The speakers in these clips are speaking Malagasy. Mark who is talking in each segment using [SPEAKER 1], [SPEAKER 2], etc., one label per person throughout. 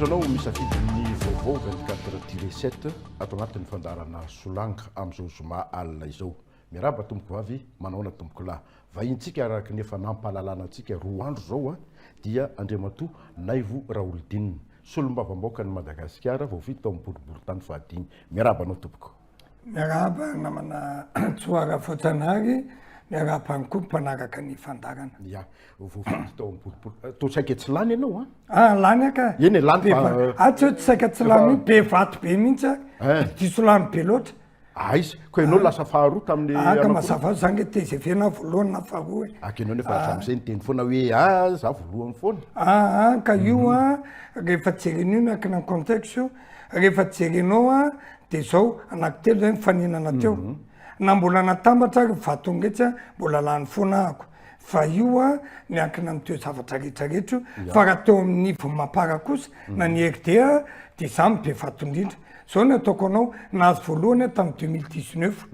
[SPEAKER 1] Misaotra anao misafidy ny vaovao 24 tiré 7 ato anatin'ny fandaharana Solanga amin'izao zoma alina izao. Miarahaba tompoko vavy, manahoana tompoko lahy. Vahintsika araka ny efa nampahalalana antsika roa andro izao dia Andriamatoa Naivo Raholdina, solombavambaokan'i Madagasikara vao vita tao amin'ny boriborintany fahadimy. Miarahaba anao tompoko. Miarahaba
[SPEAKER 2] namana Tsoa Rafojanahary, miarahaba ny koa mpanaraka ny fandarana. Ya, voafidy
[SPEAKER 1] tao amin'ny boribory. Eh, toa saika tsy lany ianao an? Ah, lany aka.
[SPEAKER 2] Eny e, lany fa... Eh, ah,
[SPEAKER 1] tsy hoe tsy saika
[SPEAKER 2] tsy lany, be vato be mihitsy a. Eh. Diso lany be loatra. Aiza, ah, koa ianao
[SPEAKER 1] ah. lasa faharoa tamin'ny ah, Aka mazava zany
[SPEAKER 2] le TGV na voalohany na faharoa e. Aka ianao nefa hatramin'izay
[SPEAKER 1] niteny foana hoe ah, za voalohany foana. Ah, ka io mhm. a,
[SPEAKER 2] rehefa jeren'io miankina ny contexte io, Rehefa jerenao a, de zao anaky telo zay nifaninana teo, na mbola natambatra ary vaton'iretsy a, mbola lany foana ahako, fa io a miankina am teo zavatra rehetra rehetra io, fa raha teo am niveau mapara kosa na ny RDA a, de za no be vato indrindra, zao ny ataoko anao, nahazo voalohany aho tam deux mille dix neuf,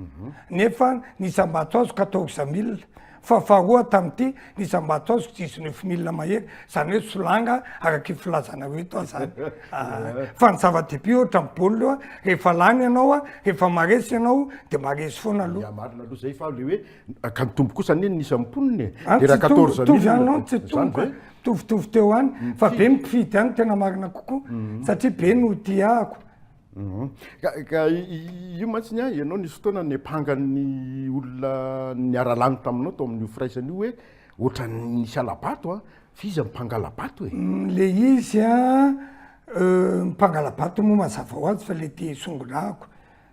[SPEAKER 2] nefa ny isam-bato azoko atao hexamille, Fa faharoa tamin'ity, ny isam-bato azoko tsy hisy nofomilina mahery, izany hoe solanga, araka io filazanareo ito aho izany. Fa ny zava-dehibe ohatra ny baolina, rehefa lany ianao, rehefa maharesy ianao, dia maharesy foana aloha. Miha marina aloha izay, fa ilay hoe,
[SPEAKER 1] ka nitombo kosa anie ny isan'ny mponina e, dia raha quatorze mille, izany ve? Tsy nitombo, tsy nitombo
[SPEAKER 2] e, mitovitovy teo ihany, fa be ny mpifidy ihany no tena marina kokoa, satria be no hotiahako. Ka
[SPEAKER 1] io mantsy ny ahy, ianao nisy fotoana niapangan'ny olona niara-lany taminao tao amin'io firaisana io hoe ohatran'ny nisy hala-bato a, f'iza no mpangala-bato e? Le izy a,
[SPEAKER 2] mpangala-bato moa mazava ho azy fa le te hisongonako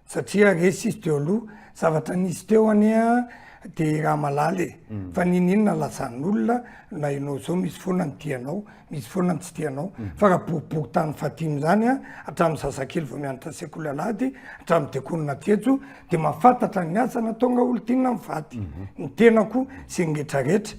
[SPEAKER 2] satria resy izy teo aloha, zavatra nisy teo anie a de raha malala e, fa n'inon'inona lazan'olona na ianao zao misy foana ny tianao Misy foana ny tsy tianao. Fa raha boribory tany fadino izany an, hatramin'ny zazakely vao mianatra sekoly alahady hatramin'ny dekonina aty eto, dia mahafantatra ny asa nataonao olon-tiana mivady. Ny tenako sy ny rehetra rehetra.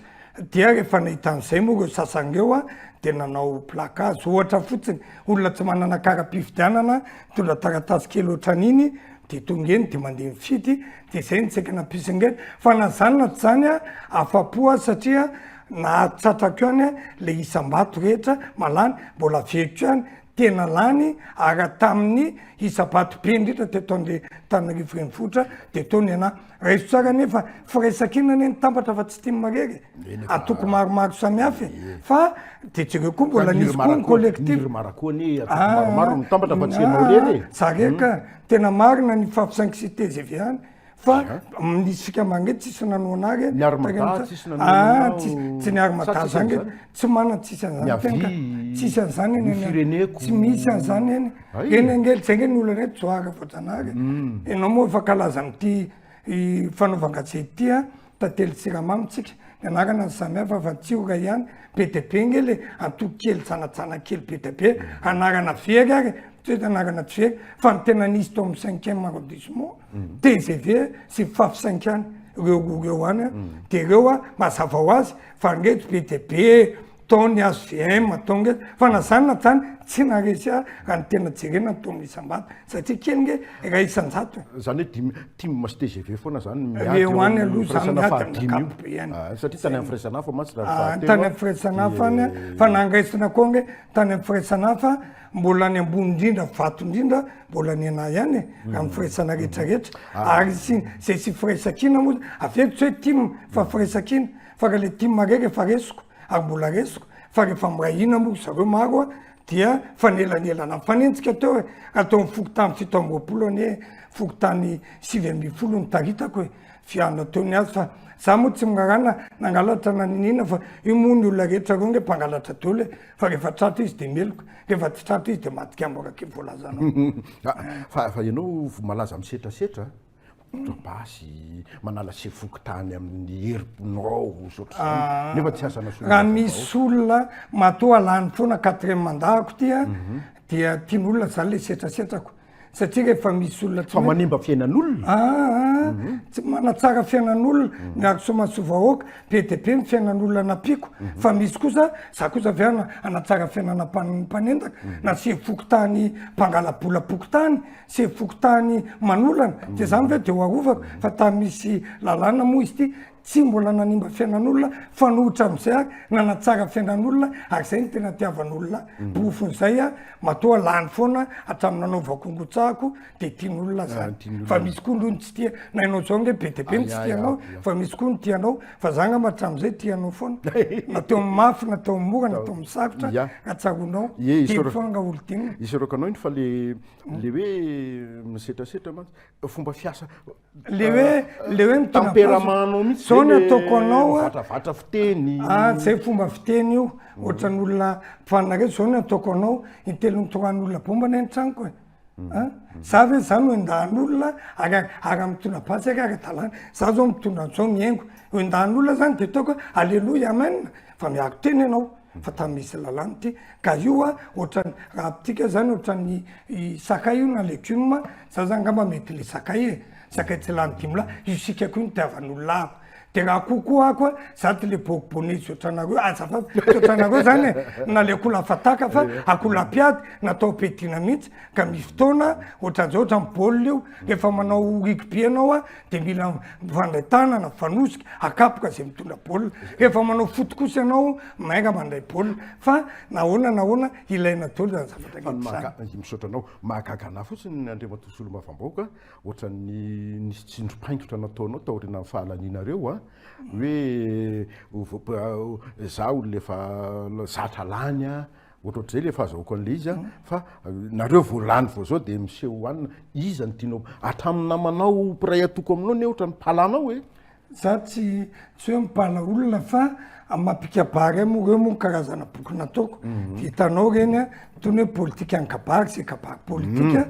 [SPEAKER 2] Dia rehefa nahita an'izay moa ireo sasany ireo an, dia nanao plaque azy. Ohatra fotsiny, olona tsy manana kara-pifidianana, nitondra taratasy kely ohatran'iny, dia tonga eny, dia mandeha mifidy, dia izay no tsy hay ka nampisy an'ireny. Fa na izany na tsy izany an, afa-po aho satria Nahatsatrako ihany le isam-bato rehetra malany mbola averiko ihany tena lany ary hatamin'ny isa-bato be indrindra teto Antananarivo renivohitra dia teo ny anà. Raiso tsara anie fa firaisankina anie ny tambatra fa tsy tim marery e. Antoko maromaro samihafa e. Fa dia jereo koa mbola nisy koa ny collectif. Ny Irmara koa anie antoko
[SPEAKER 1] maromaro no mitambatra fa tsy ianao irery e. Za re ka.
[SPEAKER 2] Tena marina ny fahafisain'i Sitez evian. Fa isika mangeto tsisy nanoana ary. Ny armada tsisy nanoana anao. Tsy ny armada zany. Tsy manan tsisy an'izany tenka. Tsisy an'izany eny. Ny fireneko. Tsy misy an'izany eny. Eny ange, zay ange ny olana eto, Johary Voajanahary. Ianao moa efa kalaza amin'ity fanaovan-gazety ity an. Tantely Jirama mitsika ny anarana ny samy hafa fa tsy io iray ihany, be dia be nge le antoko kely tsanatsana kely be dia be, anarana very ary tsy hoe anarana tsy very fa ny tena nisy tao amin'ny cinquième arrondissement, tgv sy faf cinq any ireo roa ireo any dia ireo mazava ho azy fa nge tsy be dia be Tao ny HVM tao nge fa na zany na zany tsy naharesy ahy raha ny tena jerena ny taon'ny isam-bato satria kely nge iray isan-jato e. Zany hoe dimy
[SPEAKER 1] tim sy tgv foana zany no miady eo amin'ny firaisana
[SPEAKER 2] fahadimy io? Satria tany amin'ny firaisana hafa
[SPEAKER 1] mantsy raha fahatelo an. Tany amin'ny firaisana
[SPEAKER 2] hafa any an, fa na andraisana koa nge tany amin'ny firaisana hafa mbola ny ambony indrindra vato indrindra mbola ny anah ihany e, raha ny firaisana rehetra rehetra ary sy zay tsy firaisan-kina moa avy eo tsy hoe tim fa firaisan-kina. fa ka le tim raiky efa resiko ary mbola resiko fa rehefa miray hina moa ry zareo maro a dia fanelanelana mifanenjika teo e raha teo amin'ny fokontany fito amby roapolo anie fokontany sivy ambin'ny folo nitaritako e fiana teo ny azy fa za moa tsy miraharaha na nangalatra na niniana fa io moa ny olona rehetra reo nge mpangalatra daholo e fa rehefa tratra izy dia meloka rehefa tsy tratra izy dia madika amborak'io voalazanao fa
[SPEAKER 1] fa ianao malaza misetrasetra Mitondra basy, manala sefo fokontany amin'ny herim-ponao, ohatroizany, nefa tsy azana solombavambahoaka. Raha misy
[SPEAKER 2] olona matoa lany foana quatrième mandat ako ity an, mhm. dia tian'olona zany le setrasetrako satria rehefa misy olona tsy manimba fiainan'olona
[SPEAKER 1] aa ah, ah, mhm. tsy
[SPEAKER 2] manatsara fiainan'olona mhm. miaro somasoa vahoaka be dia be ny fiainan'olona nampiako mhm. fa misy kosa za kosa avy ana anatsara fiainana mpanendaka na sefo fokontany mpangalabola-pokontany Sefo fokontany Manolana, dia izany ve dia ho arovako? Fa tany misy lalàna moa izy ity tsy mbola nanimba fiainan'olona, fanoitra amin'izay aho, nanatsara fiainan'olona, ary izay no tena tiavan'olona, porofon'izay aho, matoa lany foana hatramin'ny nanaovako ny rotsahako, dia tian'olona izany. Fa misy koa ndroa ny tsy tia, na ianao izao ange be dia be ny tsy tianao, fa misy koa ny tia anao, fa izaho angamba hatramin'izay tia anao foana, na teo amin'ny mafy, na teo amin'ny mora, na teo amin'ny sarotra, raha tsaroanao, telo foana nga olon-tianina. Isaorako anao iny fa ilay
[SPEAKER 1] le hoe misetrasetra mantsy fomba fiasa le hoe
[SPEAKER 2] le hoe mitamperamano
[SPEAKER 1] mihitsy zao ny ataoko anao
[SPEAKER 2] vatravatra fiteny
[SPEAKER 1] ah tsy hay fomba
[SPEAKER 2] fiteny io mm. ohatrany olona mpifanareo zao ny ataoko anao intelony toran'olona bomba ny an-tranoko e mm. ah, mm. za ve za no endahan'olona ary ary mitondra basy ary ara-dalàna za zao mitondra an'zao mihaingo endahan'olona zany de taoko aleloia amen fa miaro tena ianao fa tany misy lalàna ty ka io a ohatrany raha amintsika zany ohatrany sakay io na legioma za zany ngamba mety le sakay e sakay tsy lany dimy lahy io sika ko nitiavan'olona ahy de raha akoho ko ako a za ty le bôk bône tsy otranareo azafady tsy otranareo zany e na le akoho lafataka fa akoho lapiady natao ampiadiana mihitsy ka misy fotoana ohatran'zao ohatran'ny bôl io refa manao rugby anao a de mila mifandray tanana mifanosika akapoka zay mitondra baolina rehefa manao foty kosa ianao mainga mandray baolina fa nahoana nahoana ilaina dolo zany zavatra rehetra misaotra anao
[SPEAKER 1] mahagaga anah fotsiny ny andriamatoa solombavambahoaka ohatran'ny nisy tsindrom-paingotra nataonao taoriana ny fahalanianareo a hoe za olona efa zatra lany a Ohatrohatr'izay ilay fahazahoako an'ilay izy an, fa nareo vao lany vao zao dia miseho ho anona, iza no tianao, hatramin'ny namanao mpiray atoko aminao ne ohatra no mpala anao e? Za tsy
[SPEAKER 2] tsy hoe mpala olona fa mampikabary ahy moa reo moa karazana boky nataoko dia hitanao reny an, tony hoe politika an-kabary zay kabary politika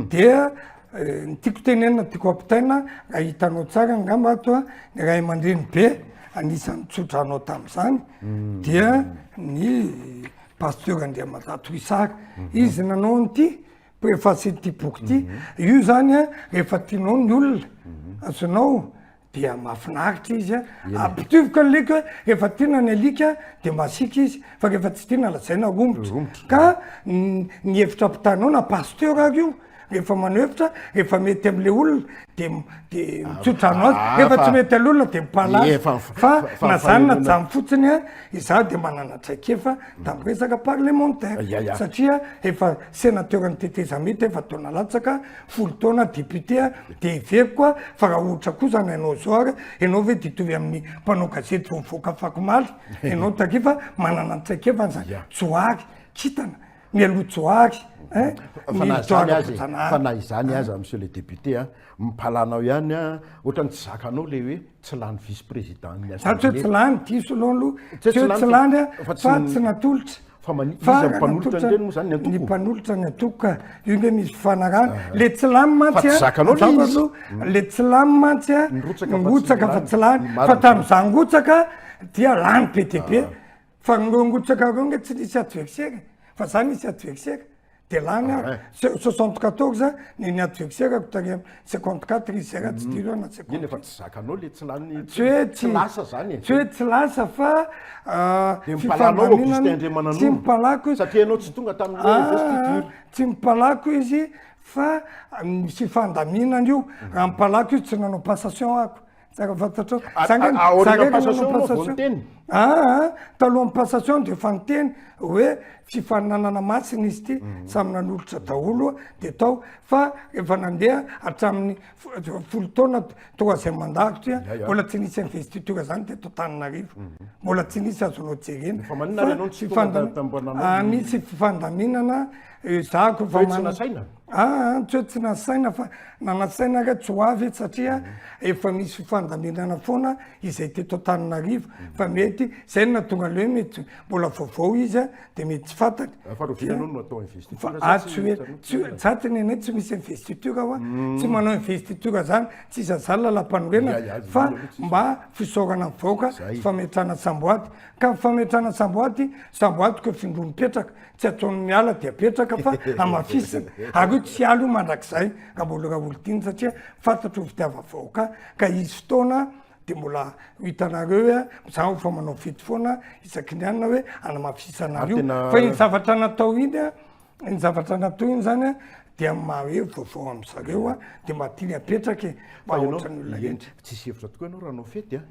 [SPEAKER 2] dia Ny tiako tenenina, tiako ampitaina, raha hitanao tsara angamba ato a, ny ray aman-dreny be anisan'ny tsotra anao tamin'izany mm. dia ny pasteur Andriamata Toisary. Mm-hmm. Izy nanao an'ity préface ity boky ity. Mm-hmm. Io zany a, rehefa tianao ny olona, mm-hmm. azonao dia mahafinaritra izy an, ampitovoka ny alika hoe rehefa tiana ny alika dia masiaka izy fa rehefa tsy tiana lazaina romotra, ka ny hevitra ampitanao na pasteur ary io rehefa manao hevitra rehefa mety amle olona de de mitsotra anao azy rehefa tsy mety alolona de mipala azy fa na zany na zany fotsiny a izaho de manana traikefa tam resaka parlementaire satria efa senateur ny tetezamita efa taona latsaka folo taona député a de heveriko a fa raha ohatra kosa ny anao zao ary ianao ve de hitovy amin'ny mpanao gazety vao mivoaka afakomaly ianao taty fa manana ny traikefany za johary kintana mialoha johary ein fa na izany azy
[SPEAKER 1] fa na izany aza monsieur le député a mipalanao ihany a ohatrany tsy zakanao le hoe tsy lany vice président ny assemblée. Zany tsy lany,
[SPEAKER 2] diso aloha aloha. Tsy hoe tsy lany fa tsy natolotra. Fa iza ny
[SPEAKER 1] mpanolotra an'ireny moa zany ny antoko? Ny mpanolotra ny antoko
[SPEAKER 2] ka, io nge misy fifanarahana. Ah. Le tsy lany mantsy a, hmm. le tsy lany mantsy a, nirotsaka fa tsy lany. Fa tamin'izaho nirotsaka dia lany be dia be. Ah. Fa nirongotsaka roa nga tsy nisy adversaire fa za nisy adversaire de lany aho soixante quatorze ny ny adversaire ko tary am cinquante quatre izy zay raha tsy diso aho na cinquante eny efa tsy zakanao le
[SPEAKER 1] tsy lany tsy hoe tsy lasa
[SPEAKER 2] zany e tsy hoe
[SPEAKER 1] tsy lasa
[SPEAKER 2] fa de mipalanao Augustin
[SPEAKER 1] Andriamananoro tsy mipalako izy
[SPEAKER 2] satria ianao tsy tonga tamin'ny
[SPEAKER 1] investiture tsy mipalako
[SPEAKER 2] izy fa ny fifandaminana io raha mipalako izy tsy nanao passation ako Tsara fantatrao. Aorian'ny passation moa vao niteny. Aa talohan'ny passation dia efa niteny hoe fifaninanana masina izy ity, mhm. samy nanolotra daholo dia tao fa efa nandeha hatramin'ny folo taona troisième mandat satria mbola tsy nisy investiture zany dia to Tananarivo. Mhm. Mbola tsy nisy azonao jerena. Fa maninona ianao tsy tonga Antananarivo? Misy fifandaminana Ezahako fa mana saina.
[SPEAKER 1] Ah, tsy hoe tsy
[SPEAKER 2] nasaina fa nanasaina nga tsy ho avy eto satria efa misy fandaminana foana izay teto Antananarivo fa mety zay na tonga leo mety mbola vaovao izy a dia mety tsy fantany. Fa rovina no atao investiture. Ah, tsy hoe tsy za tsy nenay tsy misy investiture hoa tsy manao investiture zany tsy iza zany lalampanorenana fa mba fisaorana ny vahoaka sy fametrahana samboady ka ny fametrahana samboady samboady ko findroa mipetraka tsy ataony miala de apetraka fa hamafisina ary io tsy alo mandrakizay raboly raolitiny satria fantatro fitiava vahoaka ka hisy fotoana de mbola ho hitanareo hoe mizaho fa manao fety foana isaky ny anina hoe anamafisana io fa iny zavatra natao iny a iny zavatra natao iny zany a dia mahaeo vaovao amizareo a de mba tiany apetraka e fa ohatran'ny olona rehetra tsisy hevitra tokoa ianao raha
[SPEAKER 1] hanao fety a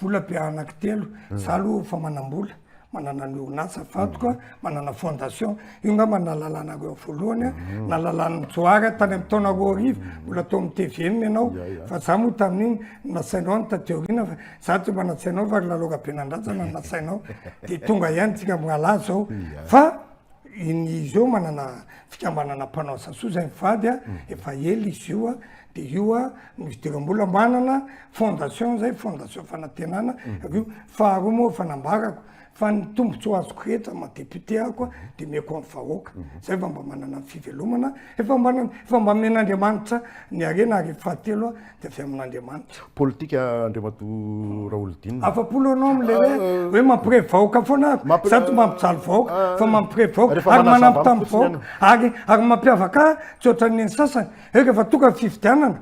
[SPEAKER 2] Vola be anaky telo, za aloha efa manam-bola, manana ny orinasa vadiko a, manana fondation, io ngamba nalalahanareo voalohany a, nalalahan'i Johary tany amin'ny taona roa arivo, mbola tao amin'ny tvm ianao, fa za moa tamin'iny nasainao any taty aoriana fa za tsy mba natsainao fa ry Lalao Rabenandratsana no nasainao, dia tonga ihany tsika mirahalahy zao, fa ny izy eo manana fikambanana mpanao asasoa zay mivady a, efa ela izy io a, de io a no idiram-bola manana fondation zay fondation fanantenana mhm. avy io faharoa moa fanambarako fa ny tombotsoa azoko rehetra ma député ako a mhm. de meko amin'ny vahoaka mhm. zay fa mba manana ny fivelomana efa mba efa mba men'andriamanitra ny arena ary fahatelo a de avy amin'andriamanitra politika andriamatoa
[SPEAKER 1] raolodina afapolo anao am'le hoe
[SPEAKER 2] ah, hoe mampire vahoaka foana ako zato mampijaly vahoaka ah, fa mampire vahoaka ary manampitamby vahoaka ary ary mampiavaka tsy ohatran'ny ny sasany Rehefa tonga ny fifidianana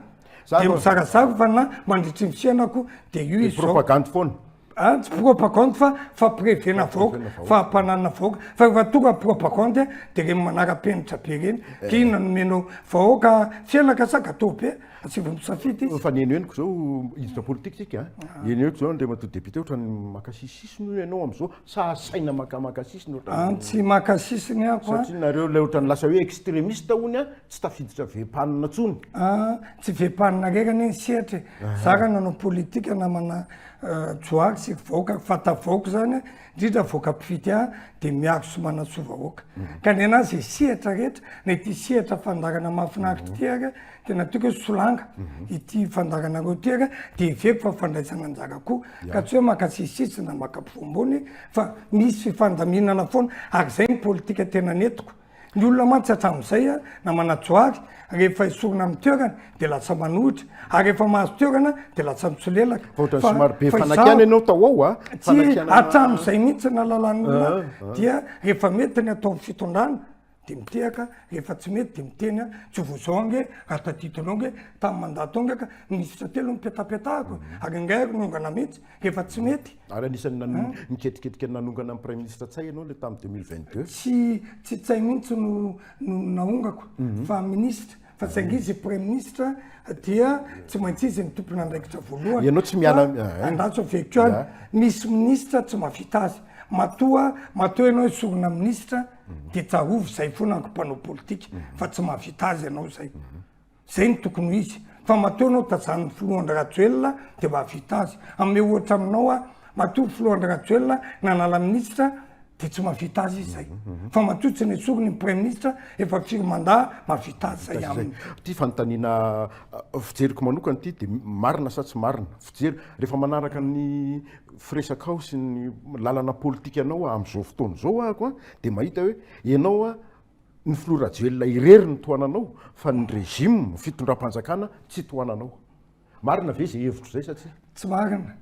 [SPEAKER 2] dia mizarazara fa na mandritry ny fiainako dia io izy zao. Propagandy foana.
[SPEAKER 1] Ah, tsy propagandy
[SPEAKER 2] fa fampirevena vahoaka, fampananana vahoaka. Fa rehefa tonga propagandy ah, dia ireny manara-penitra be ireny. Eh. Ka inona nomenao vahoaka fiainaka sa gateau be? Asivo misafidy izy. Fa ny henohenoko zao,
[SPEAKER 1] hiditra politika tsika. Ah. Ny henohenoko zao, Andriamatoa Député, ohatrany makasisisy noho ianao amizao. Sa asaina makamaka sisiny ohatran'ny hoe. An tsy maka
[SPEAKER 2] sisiny aho an. Satria nareo ilay ohatran'ny
[SPEAKER 1] lasa hoe extremiste hono an, tsy tafiditra vempanina intsony. An tsy
[SPEAKER 2] vempanina irery anie ny sehatra e. Za raha nanao politika namana Johary sy vahoaka fatavaoko izany an, indrindra vahoaka mpifidy ahy dia miaro sy manatsoa vahoaka. Ka ny anahy izay sehatra rehetra, na ity sehatra fandaharana mahafinaritra ity ary an. tena tiako hoe solanga ity fandakanareo ity ary dia heveko fa fandraisana anjara koa ka tsy hoe maka sisisisy na maka ampovoambony fa misy fifandaminana foana ary izay ny politika tena netiko ny olona mantsy hatramin'izay a na manajoary rehefa esorina amin'ny toerana dia lasa manohitra ary efa mahazo toerana dia lasa mitsolelaka
[SPEAKER 1] hatramin'izay
[SPEAKER 2] mihitsy na lalan'olona dia rehefa mety ny atao fitondrana de mitehaka rehefa tsy mety de miteny a tsy vao zao ange ary tadidinao nge tamin'ny mandat tao nge ka minisitra telo nipetapetahako ary angaha ary niongana mihitsy rehefa tsy mety ary anisan'ny nan-
[SPEAKER 1] niketriketrika nanongana an'i praiminisitra ntsay ianao le tamin'ny 2022 tsy tsy tsay
[SPEAKER 2] mihitsy no no nahongako fa minisitra fa saingy izy praiminisitra dia tsy maintsy izy ny tompon'andraikitra voalohany ianao tsy miala
[SPEAKER 1] andatso veko
[SPEAKER 2] any misy minisitra tsy mavita azy matoa matoa ianao isorona minisitra dia tsahovy izay foana ankompanao politika fa tsy mavita azy ianao izay zay ny tokony ho izy fa matoa anao tajanony filohandrajoelina dia mavita azy ame ohatra aminao a Matoa filoha Andry Rajoelina nanala minisitra dia tsy mahavita azy izy zay. Fa matoa tsy nesoriny ny praiminisitra efa firy mandat mahavita azy zay aminy. Ity fanontaniana
[SPEAKER 1] fijeriko manokana ity dia marina sa tsy marina? Fijery, rehefa manaraka ny firesakao sy ny lalana politikanao amin'izao fotoana izao aho ko dia mahita hoe ianao a ny filoha Rajoelina irery no tohananao fa ny régime, fitondram-panjakana, tsy tohananao. Marina ve zay hevitro zay sa tsia? Tsy marina,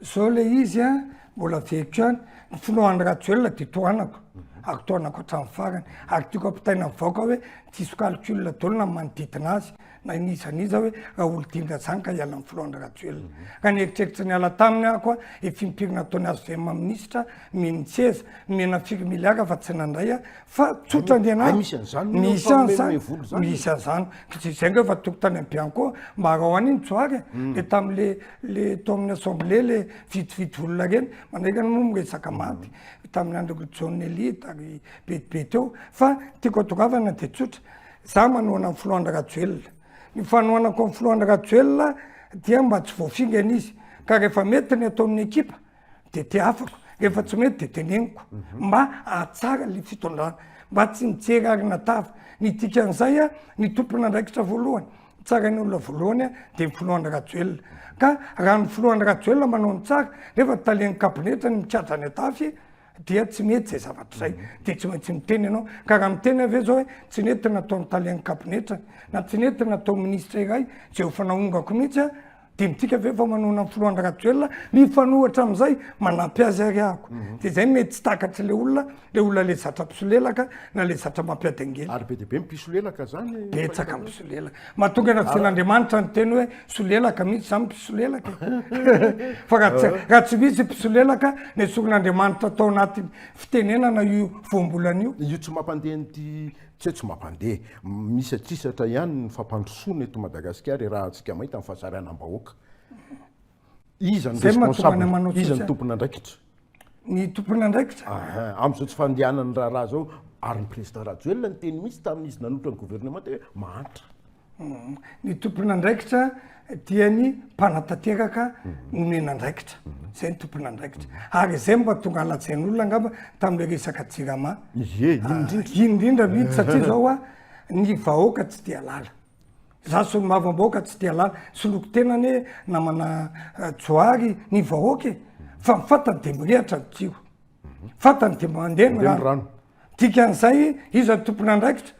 [SPEAKER 2] zao le izy a mbola very ko any, ny finoan'i Rajoelina de tohanako, ary tohanako hatramin'ny farany, ary tiako ampitaina amin'ny vahoaka hoe tsy hisy calcul daholo na ny manodidina azy na n'iza n'iza hoe Raholidinga zany ka hiala amin'ny filohan'i Rajoelina. Raha nieritreritra niala taminy aho koa efa impiry nataony hvm minisitra, mino tseza mino atsika miliaka fa tsy nandray a fa tsotra ny anay misy an'zany misy an'zany misy an'zany zay nga efa toko tany ambianco mba arao any ny tsoary de tam'le le tao amin'ny assemblée le vitsivitsy olona reny mandraika ny moa miresaka maty tamin'ny andro John Elite ary betibe teo fa tiako atongavana de tsotra za manohana ny filoha Andry Rajoelina ny fanohanako ny filoha Andry Rajoelina dia mba tsy voafingana izy ka rehefa mety ny ataon'ny ekipa de tehafako rehefa tsy mety de teneniko mba ahatsara le fitondrana mba tsy mijery arina tava ny dikan'izay a ny tompon'andraikitra voalohany tsarain'ny olona voalohany a de ny filohan'ny rajoelina ka raha ny filohan'ny rajoelina manao ny tsara nefa talen'ny kabinetra ny mikatra any atafy dia tsy mety izay zavatra izay de tsy maintsy miteny ianao ka raha miteny avy eo zao hoe tsy nety nataon'ny talen'ny kabinetra na tsy nety natao minisitra iray zay efa naongako mihitsy a Dinontsika ve fa manohana ny filoha Andry Rajoelina? Mifanohitra amin'izay, manampy azy ary ahako. Dia izay no mety tsy takatr'ilay olona, ilay olona ilay zatra mpisolelaka na ilay zatra mampiady angely. Ary be dia be ny mpisolelaka
[SPEAKER 1] izany e! Betsaka ny mpisolelaka.
[SPEAKER 2] Mahatonga ny Rajaonaandriamanitra niteny hoe solelaka mihitsy izany ny mpisolelaka e! Fa raha tsy, raha tsy misy io mpisolelaka, nesorin'Andriamanitra tao anaty fitenenana io voambolana io. Io tsy mampandeha
[SPEAKER 1] an'ity Tsy hoe tsy mampandeha. Misatrisatra ihany ny fampandrosoana eto Madagasikara irahantsika maita ny fahasaranam-bahoaka. Iza no responsable? Iza no tompon'andraikitra? Ny
[SPEAKER 2] tompon'andraikitra? Amin'izao tsy
[SPEAKER 1] fandehanan'ny raharaha izao, ary ny président Rajoelina niteny mihitsy tamin'izy nanolotra ny gouvernement teo hoe mahantra. Ny
[SPEAKER 2] tompon'andraikitra dia ny mpanatanteraka nomena andraikitra. Izay ny tompon'andraikitra. Ary izay mba tonga alajain'olona angamba tamin'ilay resaka jirama. Ie, iny indrindra. Iny indrindra mihitsy satria zao a, ny vahoaka tsy dia lala. Za solombavambahoaka tsy dia lala. Soloko tena anie namana Johary ny vahoaka e. Fa ny fantany dia mirehatra ny kiho. Fantany dia mandeha ny rano. Dikan'izay iza tompon'andraikitra?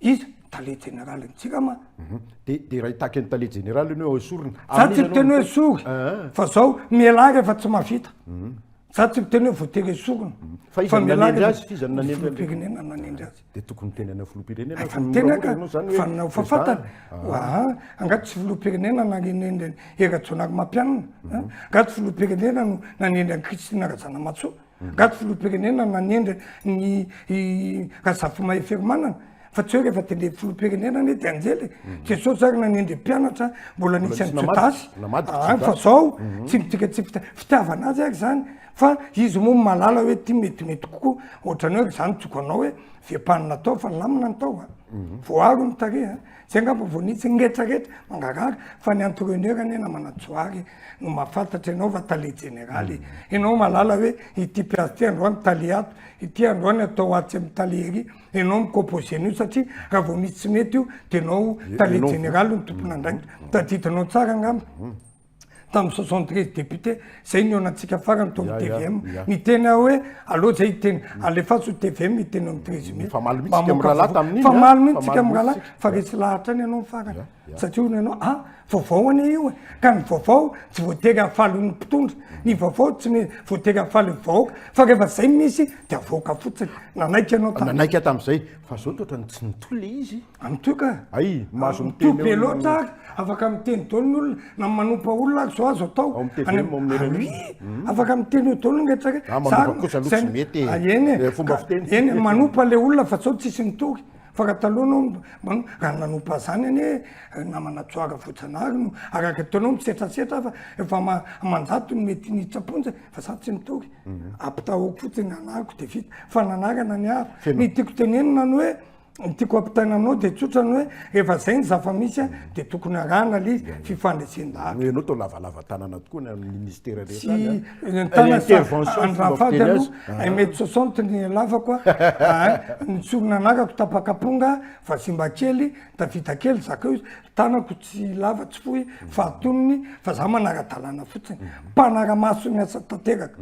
[SPEAKER 2] Iza? Ny tale jeneralin'ny Jirama. Mhm. De de raha
[SPEAKER 1] hitaky ny tale jeneraly ianao hoe esorina. Za tsy miteny hoe
[SPEAKER 2] esory. Ah. Fa zao mialà rehefa tsy mahavita. Mhm. Za tsy miteny hoe voatery esorina. Mhm. Fa iza nanendry
[SPEAKER 1] azy f'iza nanendry azy? Firenena nanendry azy.
[SPEAKER 2] De tokony miteny anao
[SPEAKER 1] filoham-pirenena. Efa miteny aka
[SPEAKER 2] fa nanao fa fantany. Ah. Anga tsy filoham-pirenena nanendry Hera Jonary Mampianina. Anga tsy filoham-pirenena no nanendry an'i Christine Razanamatsoa. Gaga filoham-pirenena nanendry ny i Razafimaheferomanana fa tsy hoe rehefa tendreny filoham-pirenena anie dia anjely e! Jesosy ary nanendry mpianatra mbola nisy an'i Jodasy any fa zao tsy midika tsy fitiavana azy ary zany fa izy moa malala hoe ty metimety kokoa ohatrany hoe ry zany tsogo anao hoe vempanina atao fa lamina ny taova voaaro ny tarehy a! Zay angamba vao nisy ny retraretra mangarahara fa ny entraineur anie namana Johary no mahafantatra ianao fa tale jeneraly e. Ianao mahalala hoe ity mpiazy ity androany tale ato, ity androany atao atsy amin'ny tale ery. Ianao no mi-composer an'io satria raha vao misy tsy mety io dia ianao tale jeneraly no tompon'andraikitra. Tadidinao tsara angamba. tamin'ny soixante treize députés zay ny onantsika farany tao amin'ny tvm niteny aho hoe aleo zay hiteny alefaso tvm hiteny amin'ny treize mai famaly mihitsy mirahalahy
[SPEAKER 1] tamin'iny famaly mihitsy tsika mirahalahy
[SPEAKER 2] fa resy lahatra any ianao farany satria hono ianao ah vaovao anie io e ka ny vaovao tsy voatery hahafaly ny mpitondra ny vaovao tsy me voatery hahafaly vahoaka fa rehefa zay misy dia vahoaka fotsiny nanaiky ianao nanaiky tamin'izay
[SPEAKER 1] fa zao toetra ny tsy nitohy le izy Amin'itoy ka. Ay,
[SPEAKER 2] mahazo
[SPEAKER 1] miteny eo. Amin'itoy be loatra ary
[SPEAKER 2] afaka miteny daholo ny olona na manompa olona ary zao azo atao. Ao amin'ny TVM, ao amin'ny RMI. Ary hmm. afaka miteny eo daholo ny rehetra rehetra. Ah, manompa kosa aloha tsy mety e. Ah, eny e. Eh, fomba fiteny tsy mety. Eny, manompa le olona fa zao tsisy mitory. Fa raha taloha anao, raha nanompa zany anie eh, namana tsoara voajanahary no araka ataonao misetrasetra fa efa aman-jato no mety nitsaponja fa za tsy mitory. Mhm. Ampitahoko fotsiny anariko dia vita. Fa nanarana ny hafa. Ny tiako tenenina ny hoe Ny tiako ampitaina aminao dia tsotra ny hoe rehefa izay ny zava-misy a, dia tokony arahana ilay izy, fifandresen-dalana. Noho ianao toa lavalava
[SPEAKER 1] tanana tokoa ny amin'ny ministera rehetra any a. Tsy ny
[SPEAKER 2] tanana fa Intervention andro fomba afady fiteny aloha azy. un mètre soixante ny halavako a, ny sorona anarako tapaka amponga, vazimba kely, tafita kely, zakao izy, tanako. sy lava tsy fohy fahatoniny fa za manara-dalàna fotsiny mpanara-maso ny asa tanteraka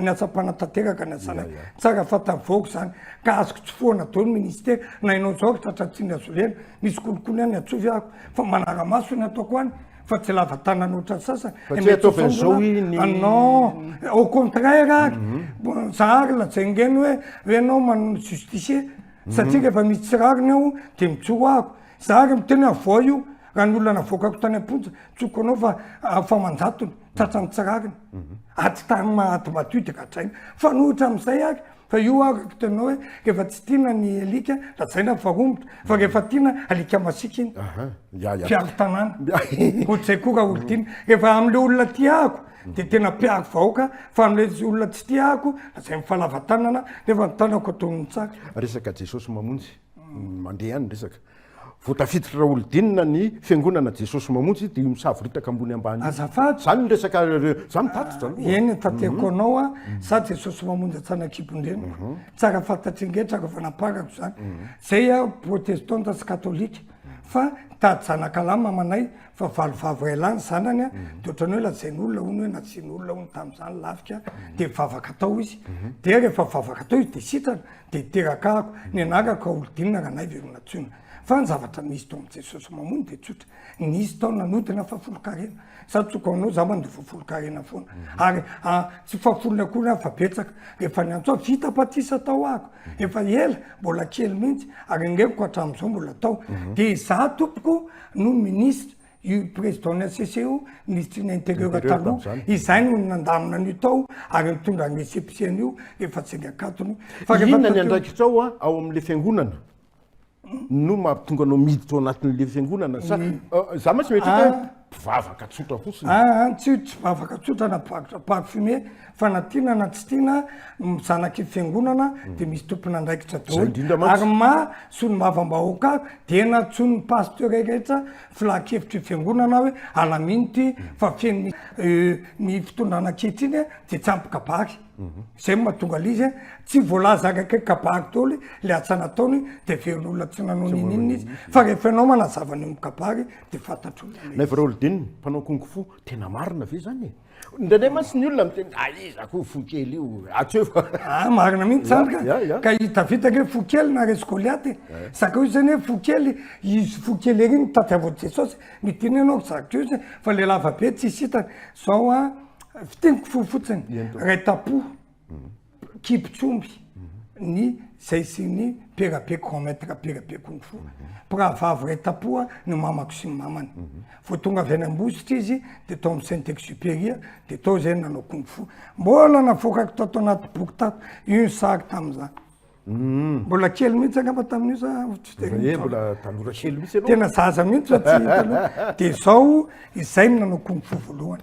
[SPEAKER 2] ny asa mpanatanteraka ny asanay tsara fantavoako zany ka azoko tsy foana dolo ministera na inao zao ry tratra tsy nihazolena misy kolikoly any atsovy ahako fa manara-maso ny ataoko any fa tsy lava tanana ohatran'ny sasany anao au contraire ary mhm. za ary lajaingeny hoe hoe anao manao justifier satria mhm. rehefa misy tsy rariny aho de mitsoro ahako Za ary miteny hoe avoahy io raha ny olona navoakako tany am-ponja, tsoiko anao fa afa aman-jatony, tratran'ny tsy rariny. Ady tany ma ady matoy dia gadraina. Mifanohitra amin'izay ary fa io ary araka teninao hoe rehefa tsy tiana ny alika lazaina fa romotra fa rehefa tiana alika masiaka iny. Aha, ya ya. Mpiaro tanàna. Ohatr'izay koa raha olon-tiana. Rehefa amin'ilay olona tia ahiko dia tena mpiaro vahoaka fa amin'ilay olona tsy tia ahiko lazainy fa lava tanana nefa ny tanako atonony tsara. Resaka Jesosy
[SPEAKER 1] mamonjy. Mandeha ihany ny resaka. Vao tafiditra Raholdina ny fiangonana Jesosy Mamonjy dia misavoritaka ambony ambany io. Azafady. Izany ny resaka, za mitatitra aloha. Eny no tateriko
[SPEAKER 2] anao a, za Jesosy Mamonjy Antsanakibondreniko, tsara fantatry rehetra rehefa namparako izany. Zay aho protestanta sy katolika fa nitady zanakalahy mamanay fa valo vavy iray lahy ny zanany a, dia ohatran'ny hoe lazain'olona hono hoe nasian'olona hono tamin'izany lafika dia vavaka tao izy. Dia rehefa vavaka tao izy dia sitrana, Dia terakahako, ny anarako Raholidinina Ranaivoeronatsoina. Fa ny zavatra nisy tao amin'i Jesosy Mamono dia tsotra, nisy tao nanodina fahafolonkarena. Sady tsoka ho anao, izaho mandoa fahafolonkarena foana. Ary ah, tsy fahafolony akory aho fa betsaka. Rehefa niantso aho, vita batisa tao ahako. Efa ela, mbola kely mihitsy, ary ny reviko hatramin'izao mbola tao. Dia izaho, Tompoko, no minisitra. io président ny HCC io, ministry ny intérieur taloha, izay no nandamina an'io tao ary nitondra an'i HCPC an'io rehefa tsy niakatony. Fa rehefa Inona ny tateo-
[SPEAKER 1] andraikitrao a, ao amin'ilay fiangonana? No mahatonga anao miditra ao anatin'ilay fiangonana sa Ah, za mantsy mieritreritra hoe Ah. mpivavaka tsotra fotsiny. Ah, ah, tsy tsy vavaka
[SPEAKER 2] tsotra na mpivakitra parfumé fa na tiana na tsy tiana ny zanaky ny fiangonana dia misy tompon'andraikitra Izay daholo indrindra mantsy. ary maha solombavambahoaka ahy dia nantsoin'ny pasteur rehetra filankevitry ny fiangonana aho hoe alamino ity fa feno mi- eh, ny fitondrana ankehitriny dia tsy ampy kabary izay no mahatonga ilay izy eh. tsy voalaza araka kabary daholo ilay asa nataony dia heveron'olona tsy nanao n'inon'inona izy fa rehefa ianao manazava ny eo amin'ny kabary dia fantatr'olona ilay izy Naivo Raholdine,
[SPEAKER 1] mpanao kung fu, tena marina ve izany e? Indraindray mantsy ny olona miteny ah iza koa fo kely io atsy eo fa. Ah marina mihitsy zany ka. Ya,
[SPEAKER 2] ya, ya. Ka hitavitaka hoe fo kely naharesy Goliaty e. Zakao izy zany hoe fo kely, izy fo kely ery no tadiavin'i Jesosy. Midina ianao ry Zaka Diozy e, fa lehilahy vabe tsisy hitany. Zao an, fintiniko fo fotsiny, Eny tompoko. Ray tampo. kibitsomby ny zay sy ny perabe grand maître perabe kung fu mpiravavy ray tapoha ny mamako sy ny mamany mhm. vao tonga avy any ambositra izy de tao amin'ny saint exupéria de tao zay nanao kung fu mbola navoakako tao tao anaty boky tato io ny sary tamin'izany mhm. mbola kely mihitsy angamba tamin'io za eh, mbola
[SPEAKER 1] tanora kely mihitsy tena zaza mihitsy fa
[SPEAKER 2] tsy hita de zao izay ny nanao kung fu voalohany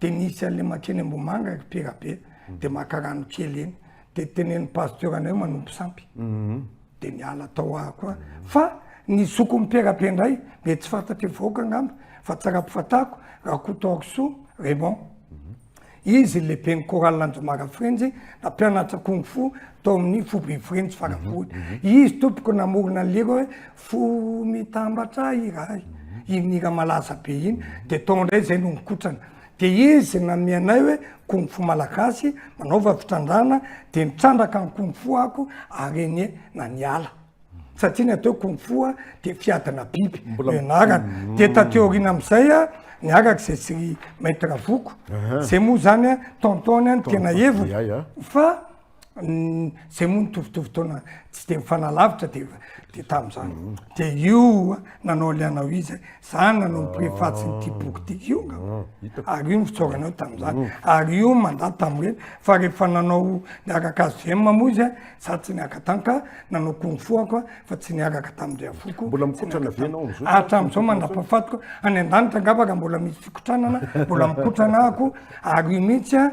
[SPEAKER 2] de nisy anle makeny Ambohimanga ery Perabe de maka rano kely eny de teneno pasteur anay manompo sampy mhm. de miala tao aho koa fa ny zoko ny Perabe ndray mety tsy fantatry vahoaka angamba fa tsara ampifatako Rakotoarisoa Raymond mhm. izy le ben'ny chorale Anjomara Frenjy nampianatra kung fu tao amin'ny foibe Frenjy farabory mhm. izy tompoko namorona lira hoe fo mitambatra iray iny hira malaza be iny de tao indray zay no nikotrana de izy name anay hoe kung fu malagasy manaova fitrandrahana de nitrandraka ny kung fu ako ary anie na niala satria ny atao hoe kung fu a de fiadina biby no ianarana de taty aoriana am'izay a niaraka zay sy maître voko zay moa zany a tonton-ny a ny tena heviny fa zay moa nitovitovy taona tsy de mifanalavitra de de tam'zany mhm. de io nanao alianao izy zany nanao miprefatsy n'ity ah. boky ty io nga ah, ary io ny fitsaoranao tam'zany mhm. ary io manda tam'reny fa rehefa nanao niaraka azo zay mamoa izy za tsy niaraka tany ka nanao kongfo ako a fa tsy niaraka tamindry afoko mbola mikotrana avy anao
[SPEAKER 1] am'zao hatram'zao
[SPEAKER 2] mandapafatiko any an-danitra angavaka mbola misy fikotranana mbola mikotrana ako ary io mihitsy a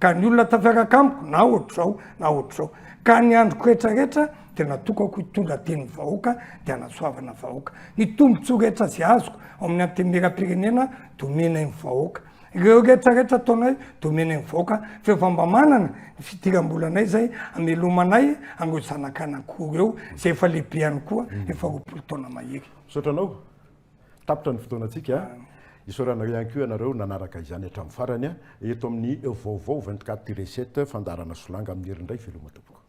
[SPEAKER 2] Ka ny olona tafiaraka amiko na ohatr'izao na ohatr'izao. Ka ny androko rehetra rehetra dia natokako hitondra tenin'ny vahoaka dia hanasoavana vahoaka. Ny tombontsoa rehetra izay azoko ao amin'ny antenimieram-pirenena dia omenay ny vahoaka. Ireo rehetra rehetra ataonay dia omenay ny vahoaka fa efa mba manana ny fidiram-bolanay izay hamelomanay an'ireo zanak'anako roa ireo izay efa lehibe ihany koa efa roapolo taona mahery. Misaotra anao.
[SPEAKER 1] Tapitra ny fotoanantsika. Isaorana ihany koa ianareo nanaraka izany hatramin'ny farany. Eto amin'ny vaovao vingt quatre tiré sept, fandaharana solanga amin'ny herindray veloma tompoko.